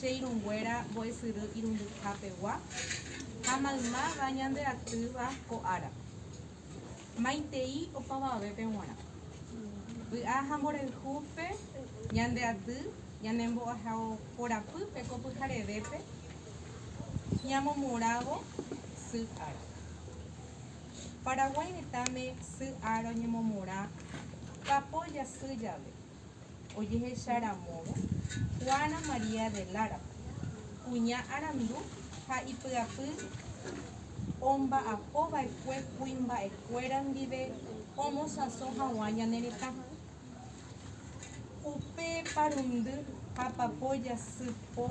che irũnguéra mbo'esyry irundyha pegua, ha maymáva ñande atýva ko ára. Maitei opavavépe g̃uarã. Vy'a ha mborayhu pe ñande aty ñane mbo'ehao korapýpe ko pyharevépe ñamomorávo sy ára. Paraguái retãme sy ára oñemomorã papo jasy jave. ojehecha ramórõ Juana María de Lara, kuña arandu ha ipy'apy omba'apo va'ekue kuimba'ekuéra ndive omosãso haguã ñane retã. Upe parundy ha papo jasy po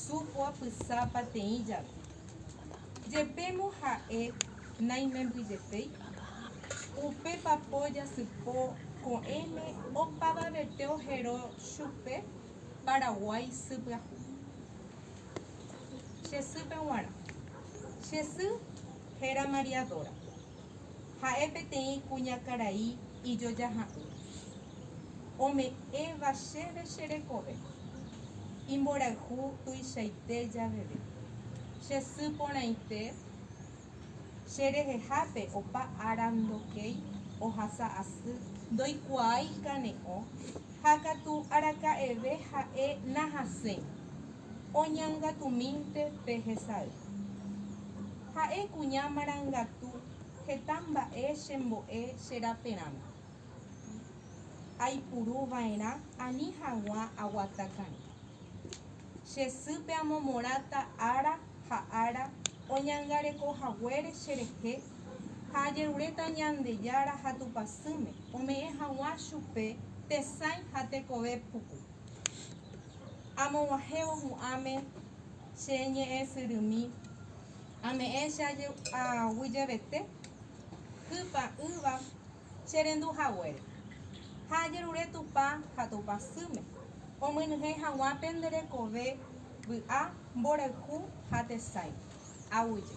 su oapysa pateĩ jave. Jepémo ha'e naimembyjetéi, upe papo jasypo ko'ẽme opavavete ohero chupe Paraguái sy pyahu. Che sýpe g̃uarã. Che sy héra María Dora. Ha'e peteĩ kuñakarai ijojaha'ỹ. Ome'ẽva chéve che rekove. Imborayhu tuichaite javeve. Che sy porãite che rehehápe opa ára ndokéi ohasa asy, ndoikuaái kane'õ ha katu araka'eve ha'e nahasẽi oñangatumínte pe hesay. Ha'e kuña marangatu heta mba'e chembo'e che raperãme. Aipuru va'erã ani haguã aguata karẽ. Che sýpe amomorãta ára ha ára oñangareko haguére che rehe ha ajeruréta Ñandejára ha Tupãsýme ome'ẽ haguã chupe tesãi ha tekove puku. Amoguahẽvo hu'ãme che ñe'ẽsyrymi, ame'ẽ che aguyjevete hypa'ỹva che rendu haguére, ha ajerure Tupã ha Tupã sýme, omyenyhẽ haguã pende rekove vy'a mborayhu ha tesãi. Aguyje.